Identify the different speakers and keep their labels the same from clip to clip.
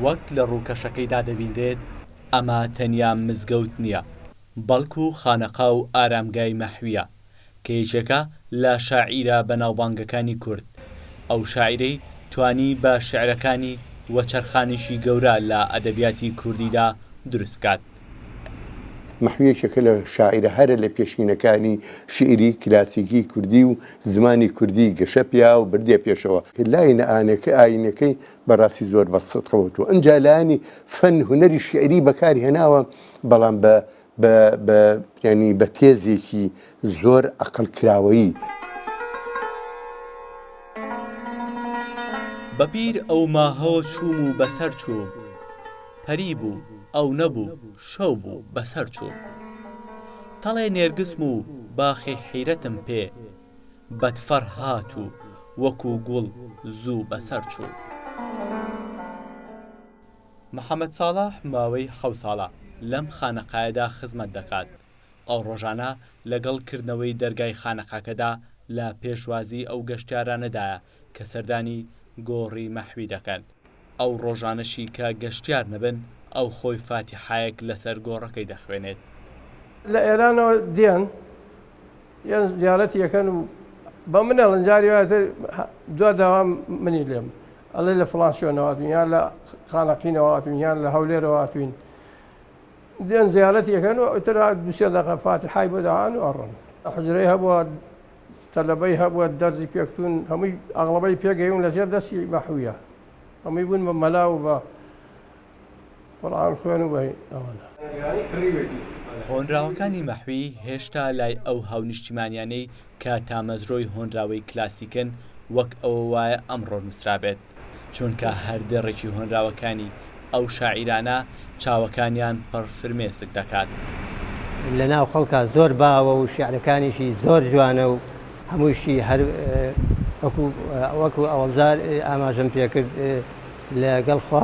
Speaker 1: وەک لە ڕووکەشەکەیدا دەبینرێت، ئەمە تەنیا مزگەوت نییە بەڵکو خانەقا و ئارامگای مەحویە کە یەکێکە لە شاعیرە بەناوبانگەکانی کورد، ئەو شاعیرەی توانی بە شیعرەکانی وەچەرخانێکی گەورە لە ئەدەبیاتی کوردیدا دروست بکات.
Speaker 2: مەحو یەکێکە لە شاعیرە هەرە لە پێشینەکانی شیعری کلاسیکی کوردی و زمانی کوردی گەشە پیا و بردیە پێشەوە. لاینئانەکە ئاینەکەی بە ڕاستی زۆر بە سدق وتووە. ئنجا لایەنی فەن هونەری شیعری بە کار هێناوە بەڵام بە بە بە یانی بە تێزێکی زۆر ئەقڵ کراوەیی.
Speaker 1: بە بیر ئەو ماهەوە چووم و بەسەر چوو پەری بوو ئەو نەبوو شەو بوو بەسەر چوو تەڵێ نێرگسم و باخی حیرەتم پێ بەدفەڕ هات و وەکو گوڵ زوو بەسەر چوو. محەمەد ساڵح ماوەی حەوت ساڵە لەم خانەقایەدا خزمەت دەکات، ئەو ڕۆژانە لەگەڵ کردنەوەی دەرگای خانەقاکەدا لە پێشوازی ئەو گەشتیارانەدایە کە سەردانی گۆڕی مەحوی دەکەن، ئەو ڕۆژانەشی کە گەشتیار نەبن ئەو خۆی فاتیحایەک لەسەر گۆڕەکەی دەخوێنێت. لە
Speaker 3: ئێرانەوە دێن یان زیارەتی ئەکەن و بە من ئەڵێن جاری وایە تر دوا داوا منی لێم ئەڵێ لە فڵان شوێنەوە هاتووین یان لە خانەقینەوە هاتووین یان لە هەولێرەوە هاتووین. دێن زیارەتی ئەکەن و ئیتر دوو سێ دەقە فاتیحای بۆ دەئەن و ئەڕۆن. حوجرەی هەبووە، تەلەبەی هەبووە دەرزی پێکتوون، هەمووی ئەغڵەبەی پێگەیوون لەژێر دەستی مەحویە، هەمووی بوون بە مەلا و بە قورئان خوێن و بە ئەوانە. هۆنراوەکانی
Speaker 1: مەحوی هێشتا لای ئەو هاونیشتیمانیانەی کە تامەزرۆی هۆنراوەی کلاسیکن وەک ئەوە وایە ئەمڕۆ نووسرابێت، چونکە هەر دێڕێکی هۆنراوەکانی ئەو شاعیرانە چاوەکانیان پڕ فرمێسک دەکات. لە
Speaker 4: ناو خەڵکا زۆر باوە و شیعرەکانیشی زۆر جوانە و هەمووشی هەر وەکو وەکو ئەوەزار ئاماژەم پێکرد لەگەڵ خوا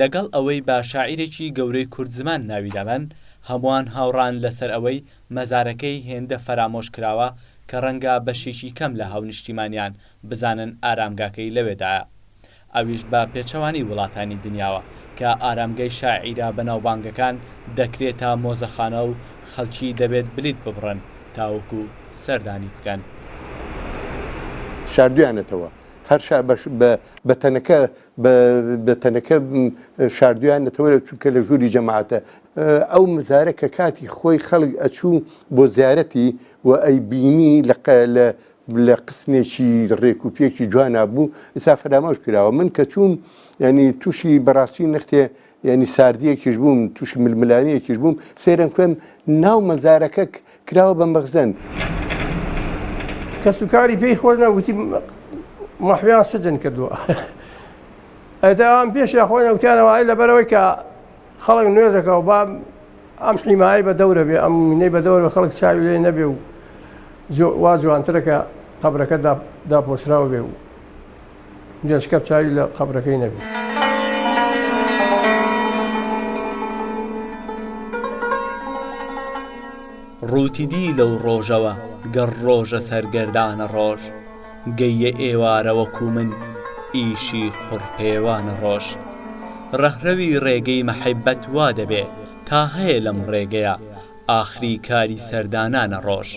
Speaker 1: لەگەڵ ئەوەی با شاعیرێکی گەورەی کوردزمان ناوی دابەن، هەمووان هاوڕان لەسەر ئەوەی مەزارەکەی هێندە فەرامۆش کراوە کە ڕەنگە بەشێکی کەم لە هاونیشتیمانیان بزانن ئارامگاکەی لەوێدایە. ئەویش بە پێچەوانەی وڵاتانی دنیاوە کە ئارامگەی شاعیرە بەناوبانگەکان دەکرێتە مۆزەخانە و خەڵکی دەبێت بلیت ببڕن تاوەکو سەردانی بکەن.
Speaker 2: شاردویانەتەوە هەر شا بە بە تەنەکە بە تەنەکە شاردویانەتەوەرە چونکە لە ژووری جەماعەتە ئەو مزارە کە کاتی خۆی خەڵک ئەچوو بۆ زیارەتی و ئەی بینی لە لە قسنێکی ڕێک و پێکی جوانە بوو ئسا فەرامۆش کراوە من کە چوون ینی تووشی بەڕاستی نەختێ یانی ساردیەکیش بووم تووشی ململانیەکیش بووم سێرم کوێم ناو مەزارەکە کراوە بە مەخزن
Speaker 3: کەس و کاری پێی خۆش نەوتی مەحویان سجن کردووە ئەتا ئەم پێش خۆی نەوتیانەوەی لەبەرەوەی کە خەڵک نوێژەکە و با ئەم حیمایی بە دەورە بێ ئەم منەی بە دەورە خەڵک چاوی لێ نەبێ و وا جوانترەکە قبرەکە داپۆشراوە بێ و گەنجکە چاوی لە قەبرەکەی نەبی.
Speaker 1: ڕووتی دی لەو ڕۆژەوە گەڕ ڕۆژە سەرگەردانە ڕۆژ گەییە ئێوارە وەکوو من ئیشی قوڕپێوانە ڕۆژ ڕەهرەوی ڕێگەی مەحەبەت وا دەبێ تا هەیە لەم ڕێگەیە ئاخری کاری سەردانانە ڕۆژ.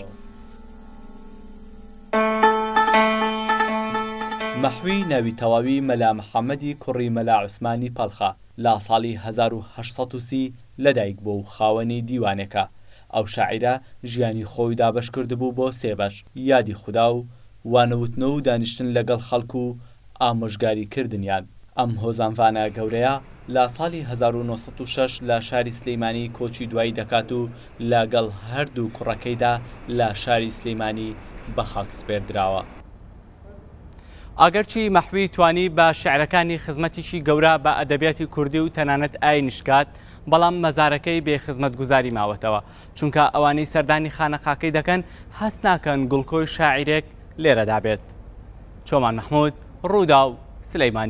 Speaker 1: مەحوی ناوی تەواوی مەلا محەمەدی کوڕی مەلا عوسمانی پەڵخە لە ساڵی هەزار و هەشت سەد و سی لەدایک بووە و خاوەنی دیوانێکە. ئەو شاعیرە ژیانی خۆی دابەش کردبوو بۆ سێ بەش، یادی خودا و وانەوتنەوە و دانیشتن لەگەڵ خەڵک و، ئامۆژگاریکردنیان. ئەم هۆزانڤانە گەورەیە لە ساڵی هەزار و نۆ سەد و شەش لە شاری سلیمانی کۆچی دوایی دەکات و لە گەڵ هەر دوو کوڕەکەیدا لە شاری سلیمانی بە خاک سپێردراوە. ئاگرچی مەحوی توانی بە شیعرەکانی خزمەتیکی گەورە بە ئەدەبیاتی کوردی و تەنانەت ئاینیش کات، بەڵام مەزارەکەی بێ خزمەتگوزاری ماوەتەوە. چونکە ئەوانەی سەردانی خانەقاکەی دەکەن هەست ناکەن گڵکۆی شاعیرێک لێرەدا بێت. چۆمان مەحمود، رووداو، سلێمانی.